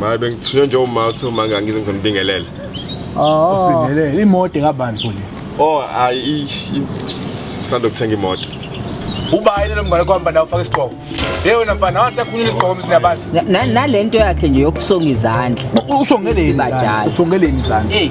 Maye bengithunywe nje uma uthi uma ngangize ngizombingelela. Oh. Usibingelele imoto kabani futhi? Oh, ayi sando kuthenga imoto. Uba ayile lomngane kwamba nawo ufaka isigqoko. Hey wena mfana wasekhulula isigqoko msina abantu. Nalento yakhe nje yokusonga izandla. Usongeleni? Usongeleni izandla? Hey.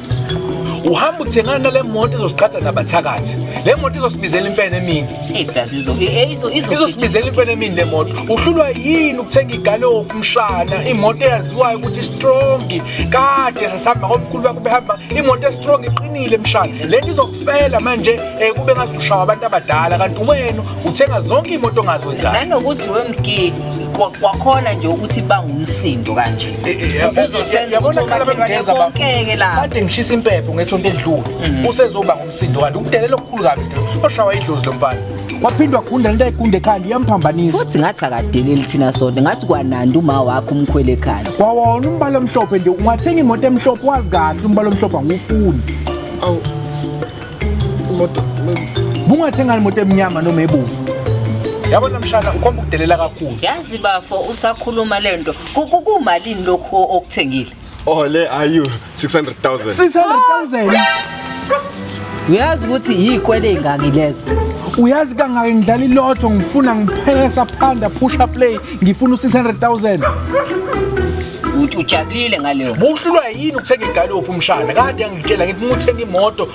uhamba uthengana nale moto izosiqhatha nabathakathi le moto izosibizela imfene emini izosibizela imfene emini le moto uhlulwa yini ukuthenga igalofu mshana imoto eyaziwayo ukuthi strongi kade sasihamba komkhulu bakho behamba imoto estrong iqinile mshana le nto izokufela manje um kube ngazi ushawa abantu abadala kanti wena uthenga zonke iy'moto ongazi wenzani nanokuthi wemgidi kwakhona nje ukuthi bangumsindo kanje uzosenzaonkeke la kade ngishisa impepho ngesonto edlule mhm. usezoba ngumsindo kanti ukudelela okukhulu kabi oshawa idlozi lo mfana waphindwa gunda lento ayigunda ekhanda iyamphambanisa futhi ngathi akadeleli thina sonke ngathi kwanandi uma wakho umkhwele ekhanda wawona umbala omhlophe nje ungathenga imoto emhlophe wazi kahle umbala omhlophe angiwufuni awu imoto bungathenga imoto emnyama noma ebomvu yabona mshana ukhomba ukudelela kakhulu yazi bafo usakhuluma lento Kukumalini lokhu okuthengile? Oh le ayu 600,000. 600,000. Uyazi ukuthi yikwele ingaki lezo? Uyazi kangaki ngidlala ilotho ngifuna ngiphele saphanda push up play ngifuna u600,000. ukuthi ujabulile ngaleyo buhlulwa yini ukuthenga igalofu umshana kade angitshela ngithi uma uthenga imoto